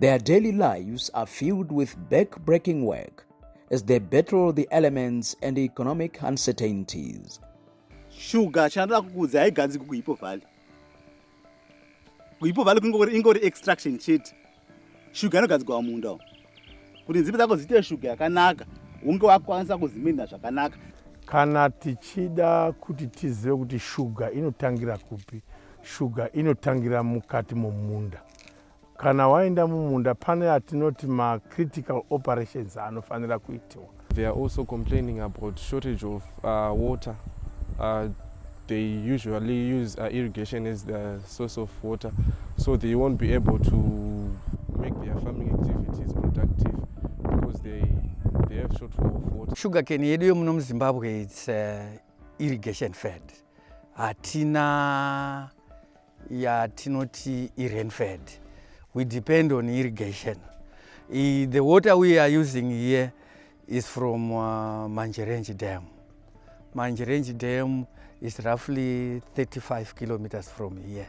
Their daily lives are filled with back-breaking work as they battle the elements and economic uncertainties. Sugar chandoda kukuudza haiganzi kukuipo valley. Kuipo valley kungori ingori extraction chete. Sugar inogadzirwa mumunda umu. Kuti nzimbe dzako dziite sugar yakanaka, unge wakwanisa kuziminda zvakanaka. Kana tichida kuti tizive kuti sugar inotangira kupi, sugar inotangira mukati momunda. Kana waenda mumunda pane atinoti macritical operations anofanira kuitiwa. They are also complaining about shortage of uh, water. Uh, they usually use uh, irrigation as the source of water so they won't be able to make their farming activities productive because they, they have shortfall of water. Sugar cane yedu yomuno muZimbabwe it's uh, irrigation fed. Hatina yatinoti irenfed we depend on irrigation I, the water we are using here is from uh, manjerenji dam manjerenji dam is roughly 35 kilometers from here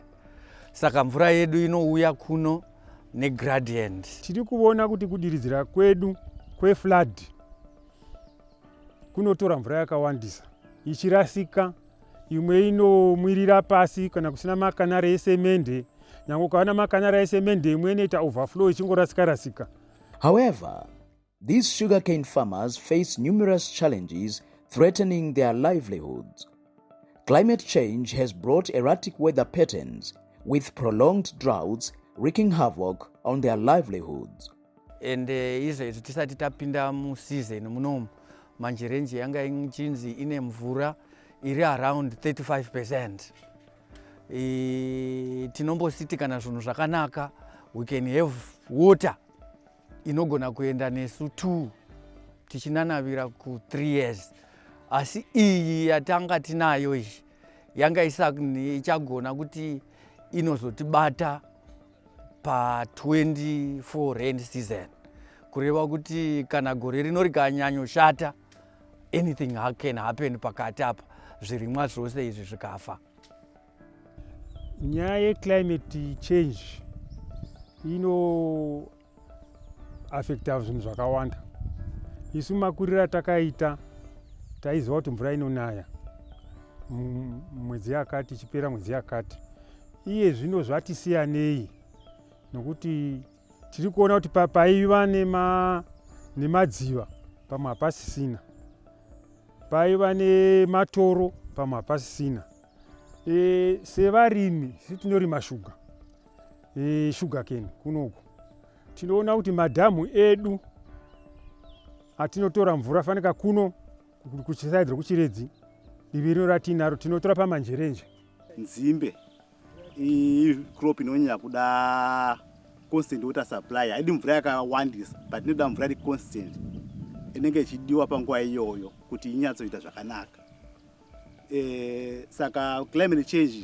saka mvura yedu inouya kuno negradient tiri kuona kuti kudiridzira kwedu kweflood kunotora mvura yakawandisa ichirasika imwe inomwirira pasi kana kusina makanara esemende nyange ukava namakanara esemende imwe inoita overflow ichingorasika rasika however these sugarcane farmers face numerous challenges threatening their livelihoods climate change has brought erratic weather patterns with prolonged droughts wreaking havoc on their livelihoods and eh, izvezvi tisati tapinda museason munomu manje renji yanga ichinzi ine mvura iri around 35 percent e, tinombositi kana zvinhu zvakanaka we can have water inogona kuenda nesu two tichinanavira ku three years asi iyi yatanga tinayo iyi yanga ichagona kuti inozotibata pa 24 rain season kureva kuti kana gore rino rikanyanyoshata anything can happen pakati apa zvirimwa zvose izvi zvikafa nyaya yeclimate change ino affecta zvinhu zvakawanda isu makuriro atakaita taiziva kuti mvura inonaya mwedzi yakati ichipera mwedzi yakati iye zvino zvatisiyanei nokuti tiri kuona kuti paiva nemadziva pamwe hapasisina paiva nematoro pamwe hapasisina E, sevarimi si tinorima shuga e, shuga keni kunoku tinoona kuti madhamu edu atinotora mvura fanika kuno kuchisaidzwa kuchiredzi ivi rino ratinaro tinotora pamanjerenje nzimbe crop inonyanya kuda constant water supply haidi mvura yakawandisa but inoda mvura iri constant inenge ichidiwa panguva iyoyo kuti inyatsoita zvakanaka eh, saka climate change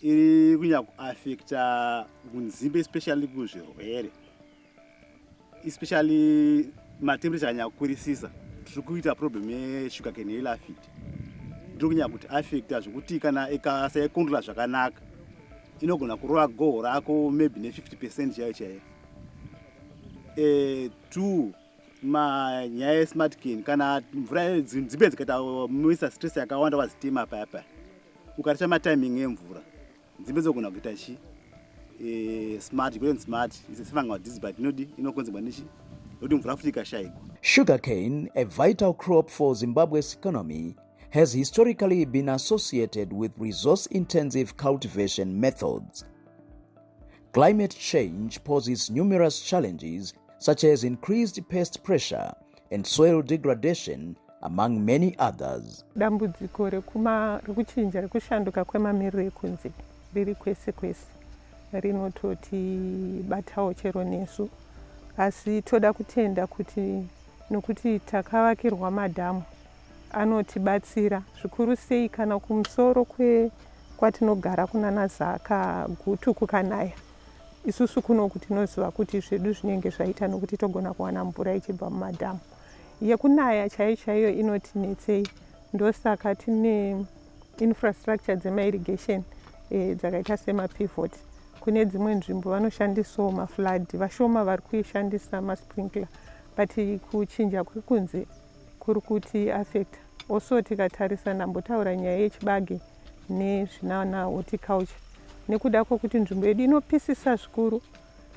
iri kunyanya kuaffecta kunzimbe especially kuzvirwere especially matemperature anyanya kukwirisisa tiri kuita problem yesugar cane yelafit ndiri kunyanya kuti affecta zvekuti kana ikasaikontrola zvakanaka inogona kurova goho rako maybe ne 50 percent chaiyo chaiyo eh, two manyaya esmartkin kana mvura dzimbe dzikaita muisa stress yakawanda wazitima paya paya ukarisha matiming emvura dzimbe dzogona kuita chi eh, smart kuten smart is a sefangal disease but inodi inokonzerwa nechi yokuti mvura futi ikashaikwa sugar cane a vital crop for zimbabwe's economy has historically been associated with resource intensive cultivation methods Climate change poses numerous challenges such as increased pest pressure and soil degradation among many others. Dambudziko rekuchinja rekushanduka kwemamiriro ekunze riri kwese kwese rinototibatawo chero nesu asi toda kutenda kuti nokuti takavakirwa madhamu Anotibatsira zvikuru sei kana kumusoro kwe kwatinogara kunana Zaka gutu kukanaya. Isusu kunoku tinoziva kuti zvedu zvinenge zvaita nokuti togona kuwana mvura ichibva mumadhamu. Yekunaya chaiyo chaiyo inotinetsei ndosaka tine infrastructure dzema irrigation eh, dzakaita sema pivot kune dzimwe nzvimbo vanoshandisawo maflood vashoma vari kuishandisa masprinkler but kuchinja kuri kunze Kuri kuti affect also tikatarisa ndambotaura nyaya yechibage nezvinana horticulture nekuda kwekuti nzvimbo yedu inopisisa zvikuru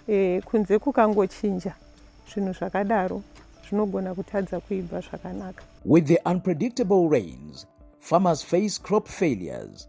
e, kunze kukangochinja zvinhu zvakadaro zvinogona kutadza kuibva zvakanaka with the unpredictable rains farmers face crop failures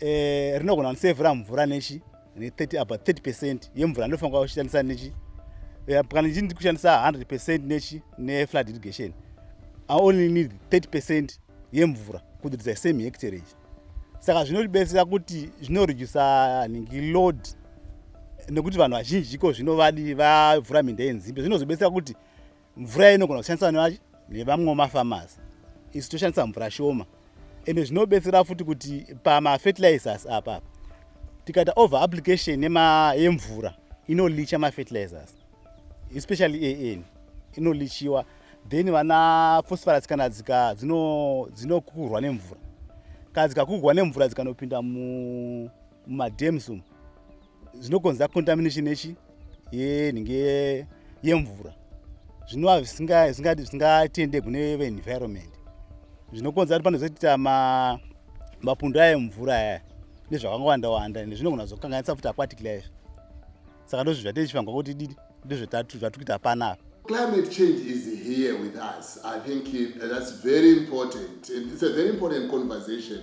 eh, rinogona kusevhura mvura nechi ne30 about 30 percent yemvura ndinofanira kushandisa nechi eh, kana ndii ndikushandisa 100 percent nechi neflood irrigation i only need 30 percent yemvura kuti dza same hectare ichi saka zvinotibetsera kuti zvinoredusa nhingi load nekuti vanhu vazhinji iko zvinovadi vavhura minda yenzimbe zvinozobetsera kuti mvura inogona kushandiswa nevamwe mafamasi isu toshandisa mvura shoma ende zvinobetsera futi kuti pamafertilizers apapa tikaita over application yemvura inolicha mafertilizers especially an inolichiwa then vana phosphorus kana dzika dzinokukurwa nemvura kana dzikakugwa nemvura dzikanopinda mumadams umu zvinokonza contamination yechi yenhinge yemvura zvinova zvisingatende kune veenvironment zvinokonza kuti panozoita mapundu ayo mvura aya nezvakangowanda wanda ende zvinogona zokanganisa futi aquatic life saka ndozvi zvatechifangwa kuti dii ndozvatatuita panapa Climate change is here with us. I think it, that's very important. And it's a very important conversation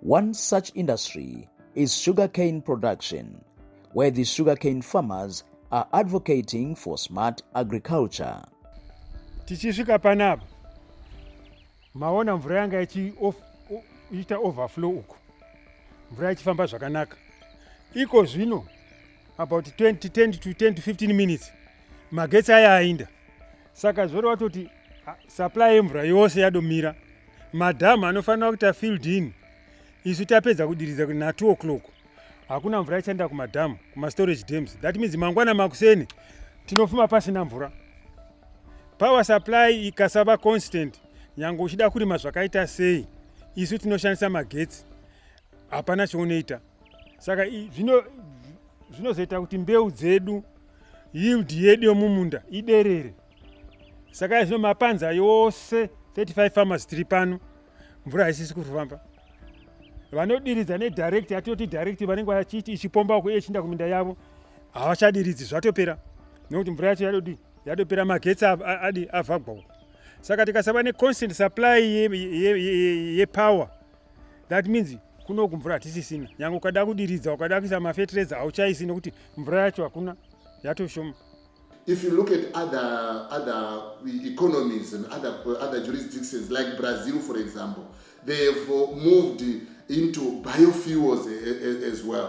One such industry is sugarcane production, where the sugarcane farmers are advocating for smart agriculture. Tichisvika panapa maona mvura yanga ichiita overflow uku, mvura ichifamba zvakanaka. Iko zvino about 20, 10 to 10 to 15 minutes magetsi aya ainda saka zvori watoti supply yemvura yose yadomira madhamu anofanira kuita field in isu tapedza kudiridza na 2 o'clock hakuna mvura ichaenda kumadhamu kumastorage dams that means mangwana makuseni tinofuma pasina mvura power supply ikasava constant nyange uchida kurima zvakaita sei isu tinoshandisa magetsi hapana chaunoita saka zvinozoita kuti mbeu dzedu yield yedu yomumunda iderere saka izvino mapanza yose 35 farmers tiri pano mvura haisisi kufamba vanodiridza nedirect yatoti direct vanenge vachiti ichipomba uko ichiinda kuminda yavo havachadiridzi zvatopera nekuti mvura yacho yadodi yatopera magetsi adi avhagwa uko saka tikasava neconstant supply yepower ye, ye, ye, ye that means kunoku mvura hatisisina nyange ukada kudiridza ukada kuisa mafetireza hauchaisi nekuti mvura yacho hakuna yatoshoma if you look at other other economies and other other jurisdictions like brazil for example they have moved into biofuels as well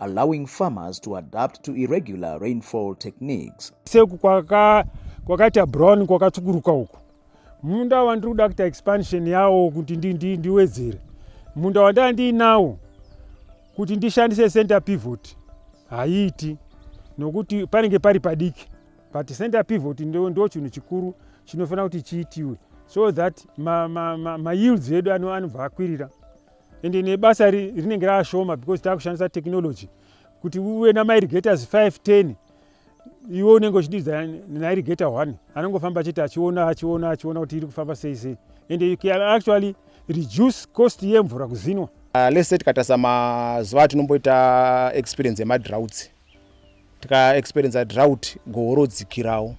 allowing farmers to adapt to irregular rainfall techniques. Seku kwaka kwakaita brown kwakatsvukuruka uku munda wandiri kuda kuita expansion yawo kuti ndiwedzere munda wandava ndiinawo kuti ndishandise center pivot haiiti nokuti panenge pari padiki but center pivot ndo, ndo chinhu chikuru chinofanira kuti chiitiwe so that mayields ma, ma, ma edu anobva akwirira ende nebasa rinenge raashoma because taakushandisa technology kuti uve namairigators 5 10 iwe unenge uchididza nairigata one anongofamba achiti achiona achiona achiona kuti iri kufamba sei sei and you can actually reduce cost yemvura kuzinwa uh, lese tikatarisa mazuva atinomboita experience yemadrouts tika experience drought goho rodzikirawo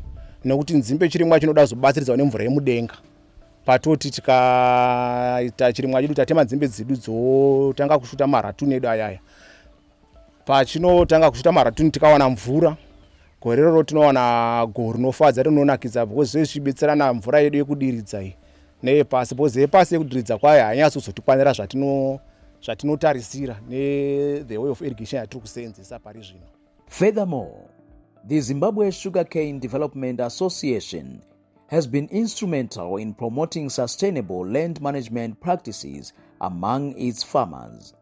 nekuti nzimbe chirimwa chinoda kuzobatsiridzawo nemvura yemudenga patoti tikaita chirimwa chedu tatema nzimbe dzedu dzotanga kusvuta maratuni edu ayaya pachinotanga kusvuta maratuni tikawana mvura gore roro tinowana goho rinofadza rinonakidza because zvezvichibetserana mvura yedu yekudiridza iyi neyepasi because yepasi yekudiridza kwayo hainyatsi kuzotikwanira zvatinotarisira nethe way of irrigation yatiri kuseenzesa pari zvino furthermore the zimbabwe sugar cane development association has been instrumental in promoting sustainable land management practices among its farmers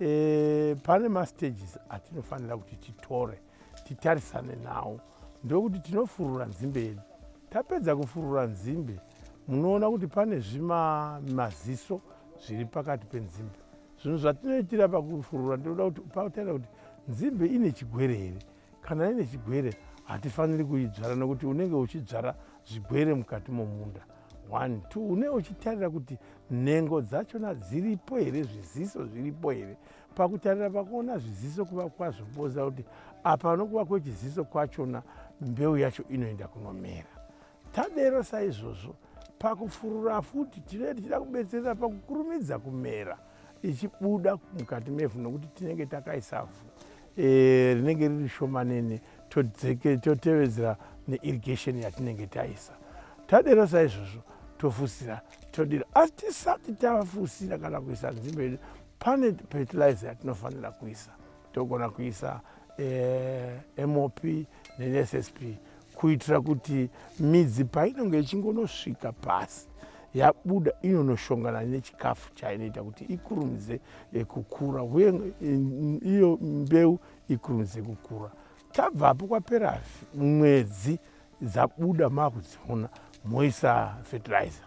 e, pane mastages atinofanira kuti titore titarisane nawo ndokuti tinofurura nzimbe yedu tapedza kufurura nzimbe munoona kuti pane zvimaziso zviri pakati penzimbe zvinhu zvatinoitira pakufurura ndinoda kuti pautaira kuti nzimbe ine chigwere here kana ine chigwere hatifaniri kuidzvara nokuti unenge uchidzvara zvigwere mukati momunda one two une uchitarira kuti nhengo dzachona dziripo here zviziso zviripo here pakutarira pakuona zviziso kuva kwazvo kuboza kuti apa nokuva kwechiziso kwachona mbeu yacho inoenda kunomera Tadero saizvozvo, pakufurura futi tinenge tichida kubetsera pakukurumidza kumera ichibuda mukati mevhu nokuti tinenge takaisa vhu e, rinenge riri shomanene totevedzera neirrigation yatinenge taisa. Tadero saizvozvo tofusira todira asi tisati tafusira kana kuisa nzimbe yedu pane fertilizer yatinofanira kuisa togona kuisa eh, mop nensp kuitira kuti midzi painenge ichingonosvika pasi yabuda inonoshongana nechikafu chainoita kuti ikurumidze eh, kukura uye eh, iyo mbeu ikurumidze kukura tabvapo kwapera mwedzi dzabuda maakudziona moisa fertilizer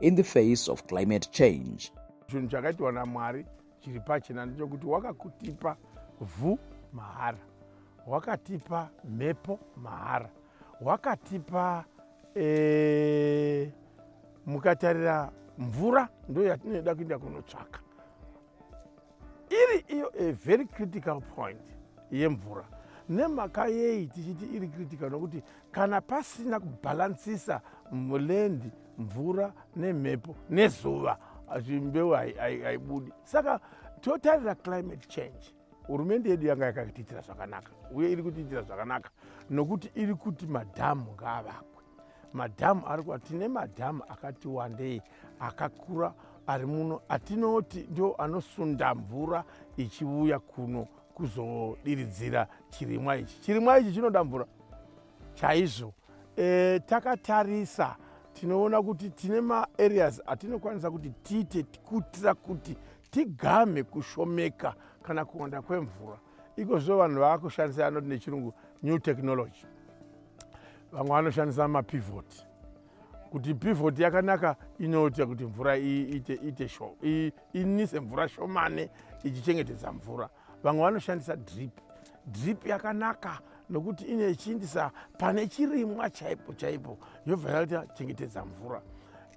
in the face of climate change. Chinhu chakaitwa naMwari chiri pachena ndechokuti wakakutipa vhu mahara, wakatipa mhepo mahara, wakatipa ee, eh, mukatarira mvura ndo yatinoda kuenda kunotsvaka iri iyo a very critical point yemvura nemhaka yei tichiti iri critical nokuti kana pasina kubhalansisa mulendi mvura nemhepo nezuva zvimbeu haibudi saka totarira climate change hurumende yedu yanga yakatiitira zvakanaka uye iri kutiitira zvakanaka nokuti iri kuti madhamu ngaavakwe madhamu ari kuva tine madhamu akati wandei akakura ari muno atinoti ndo anosunda mvura ichivuya kuno kuzodiridzira chirimwa ichi chirimwa ichi chinoda mvura chaizvo e, takatarisa tinoona kuti tine maareas atinokwanisa kuti tiite kutira kuti tigamhe kushomeka kana kuwanda kwemvura ikozvo vanhu vaakushandisa yanoti nechirungu new technology vamwe vanoshandisa mapivoti kuti pivoti yakanaka inoita kuti mvura inise mvura shomane ichichengetedza mvura vamwe vanoshandisa drip drip yakanaka nokuti inechiindisa pane chirimwa chaipo chaipo yobva yaita chengetedza mvura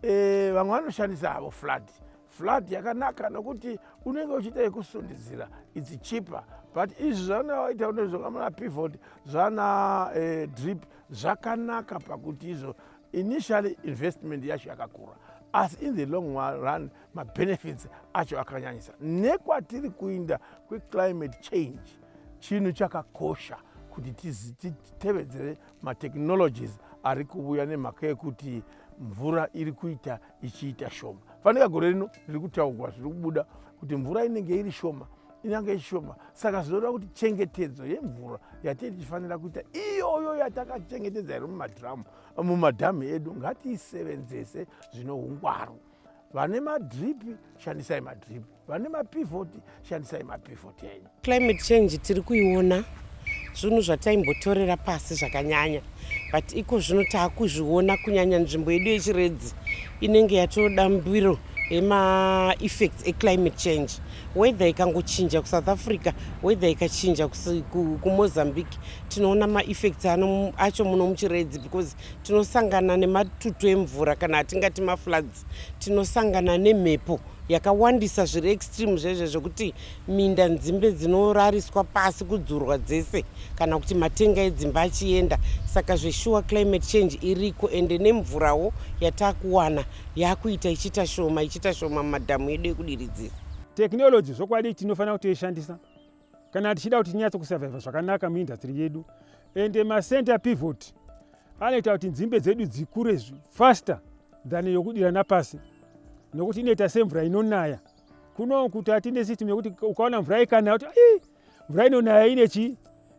e, vamwe vanoshandisa havo flat flat yakanaka nokuti unenge uchiita yekusundidzira its cheaper but izvi zvanaita unezvokamana pivot zvana eh, drip zvakanaka pakuti izvo initially investment yacho yakakura asi in the long run mabenefits acho akanyanyisa nekwatiri kuinda kweclimate change chinhu chakakosha kuti titevedzere matechnologies ari kuvuya nemhaka yekuti mvura iri kuita ichiita shoma fanika gore rino riri kutaugwa zviri kubuda kuti mvura inenge iri shoma inyange ishoma saka zvinoreva kuti chengetedzo yemvura yatee tichifanira kuita iyoyo yatakachengetedza iri mumadhiramu mumadhamu edu ngatiisevenzese zvine ungwaru vane madhiripi shandisai madhiripi vane mapivoti shandisai mapivoti enyu climate change tiri kuiona zvinhu zvataimbotorera pasi zvakanyanya but iko zvino taakuzviona kunyanya nzvimbo yedu yechiredzi inenge yatoda mbiro yemaeffects eclimate change weather ikangochinja kusouth africa weather ikachinja kumozambique tinoona maeffects acho muno muchiredzi because tinosangana nematutu emvura kana atingati mafloods tinosangana nemhepo yakawandisa zviri extreme zvezve zvekuti minda nzimbe dzinorariswa pasi kudzurwa dzese kana kuti matenga edzimba achienda saka zveshuwa climate change iriko ende nemvurawo yatakuwana yakuita ichiita shoma ichiita shoma mumadhamu edu ekudiridzira technology zvokwadi tinofanira kutoishandisa kana tichida kuti tinyatso kusavhaivha zvakanaka muindastry yedu and macenter pivot anoita kuti nzimbe dzedu dzikure faster than yokudira napasi nokuti inoita semvura inonaya kuno kuti atine system yekuti ukaona mvura ikanaya kuti ai mvura inonaya ine chii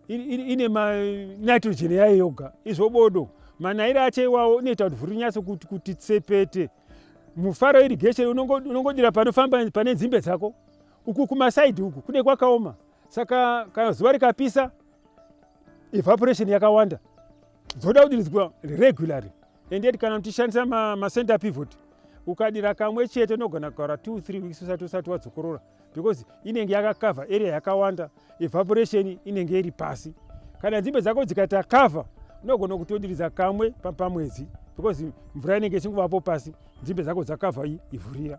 ine manitrogen yayo yoga izvo bodo manayiro acho iwawo inoita kuti vhuri nyatso kuti kuti tsepete mufaro irigation unongodira panofamba pane nzimbe dzako Uku kumasaidi uku kune kwakaoma, saka kana zuva rikapisa evaporation yakawanda dzoda kudiridzwa regularly and yet kana muchishandisa macenter ma pivot ukadira kamwe chete unogona kugara 2 3 weeks usati usati wadzokorora because inenge yakakavha area yakawanda evaporation inenge iri pasi kana nzimbe dzako dzikaita cover unogona kutodiridza kamwe pamwedzi because mvura inenge ichingovapo pasi nzimbe dzako dzakavha ivhurira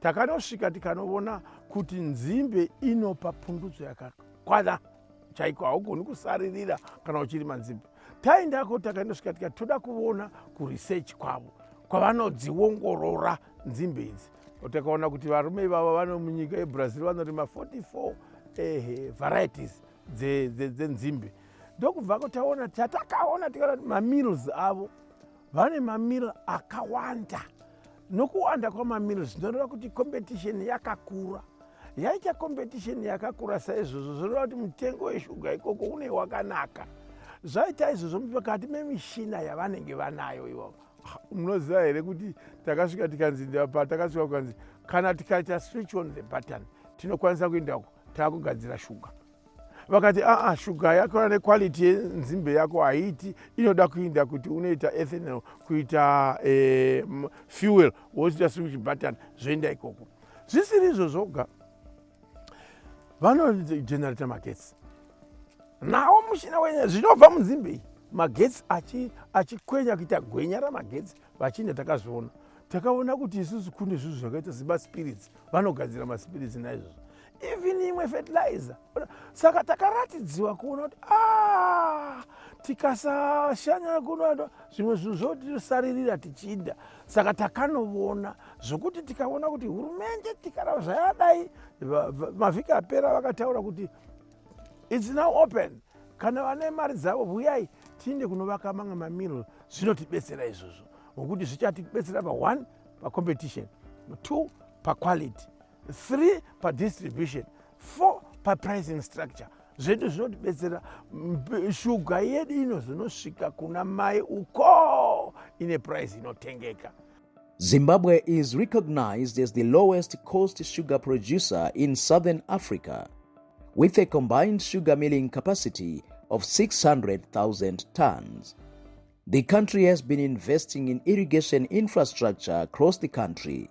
takanosvika tikanovona kuti nzimbe inopa pundutso yakakwana chaiko haugoni kusaririra kana uchirima nzimbe taendako takanosvika tika toda kuvona kuresearch kwavo kwavanodziongorora nzimbe idzi takaona kuti varume ivavo vano munyika yebrazil vanorima 44 ehe varieties dzenzimbe dze, dze ndokubvako taona tatakaona tikati mamills avo vane mamil akawanda nokuwanda kwamamil zvinoreva kuti competition yakakura yaita competition yakakura saizvozvo zvinoreva kuti mutengo weshuga ikoko une wakanaka zvaita izvozvo mukati memishina yavanenge vanayo ivo munoziva here kuti takasvika tikanzi patakasvika kukanzi kana tikaita switch on the button tinokwanisa kuenda uko takugadzira shuga vakati aa shuga yako ane quality yenzimbe yako haiti inoda kuinda kuti unoita ethanol kuita e, fuel wozoita switch button zvoenda ikoko zvisiri izvo zvoga vanogenerator magetsi nawo mushina wenye zvinobva munzimbe iyi magetsi achikwenya achi kuita gwenya ramagetsi vachinda takazviona takaona kuti isusu kune zvinhu zvakaita semaspirits vanogadzira maspirits naizvozvo even imwe fertilizer saka takaratidziwa kuona kuti ah, tikasashanya kunoa zvimwe zvinhu zvotisaririra tichida saka takanovona zvokuti tikaona kuti hurumende tikara zvayadai mavhiki apera vakataura kuti its now open kana vane mari dzavo huyai tiinde kunovaka mamwe mamiro zvinotibetsera izvozvo ngokuti zvichatibetsera pa one pacompetition two paquality 3 padistribution 4 papricing structure zvedu zvinotibetsera shuga yedu inozonosvika kuna mai uko ine price inotengeka zimbabwe is recognized as the lowest cost sugar producer in southern africa with a combined sugar milling capacity of 600000 tons the country has been investing in irrigation infrastructure across the country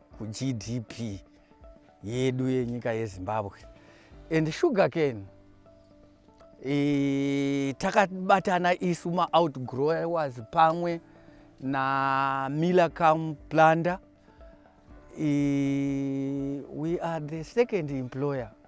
kugdp yedu yenyika yezimbabwe and sugar cane e, takabatana isu maoutgrowers pamwe namilacam plunder e, we are the second employer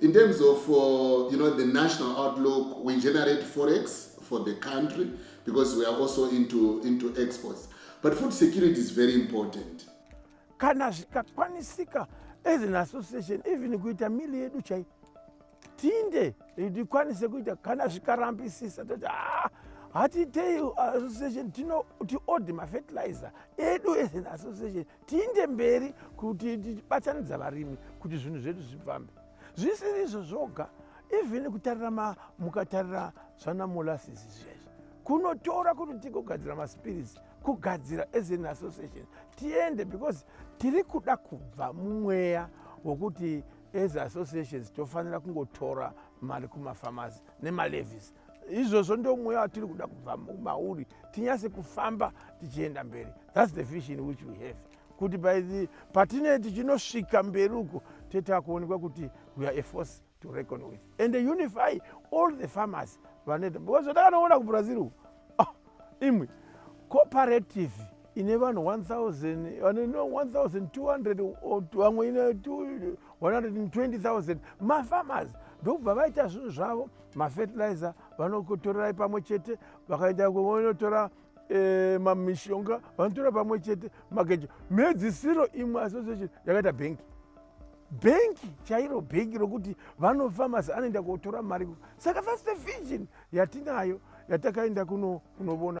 In terms of uh, you know, the national outlook, we generate forex for the country because we are also into, into exports. But food security is very important. Kana zvikakwanisika as an association, even kuita mili yedu chai tinde tikwanise kuita kana zvikarambisisa toti ah, hatiitei uh, association tinoti odi mafertilizer edu as an association tiinde mberi kuti tichibatanidza varimi kuti zvinhu zvedu zvifambe zvisiri izvo zvoga even kutarira mukatarira zvanamolasis zvezvi kunotora kuti tigogadzira maspirits kugadzira as an association tiende because tiri kuda kubva mumweya wokuti as associations tofanira kungotora mari kumafamasi nemalevis izvozvo ndo mweya watiri kuda kubva mauri tinyase kufamba tichienda mberi thats the vision which we have kuti patinee tichinosvika mberi uko toita kuonekwa kuti we are a force to reckon with and unify all the farmers vanoita because zvatakaona kubrazil uku oh, imwe cooperative ine vanhu 1000 vane no 1200 vamwe ine 120000 mafarmers ndokubva vaita zvinhu zvavo mafertilizer vanotorerai pamwe chete vakaenda vanotora eh, mamishonga vanotora pamwe chete magejo mhedzisiro imwe association yakaita bhengi bhengi chairo bhengi rokuti vanofarmers anoenda kotora mari saka first vision yatinayo yatakaenda kunovona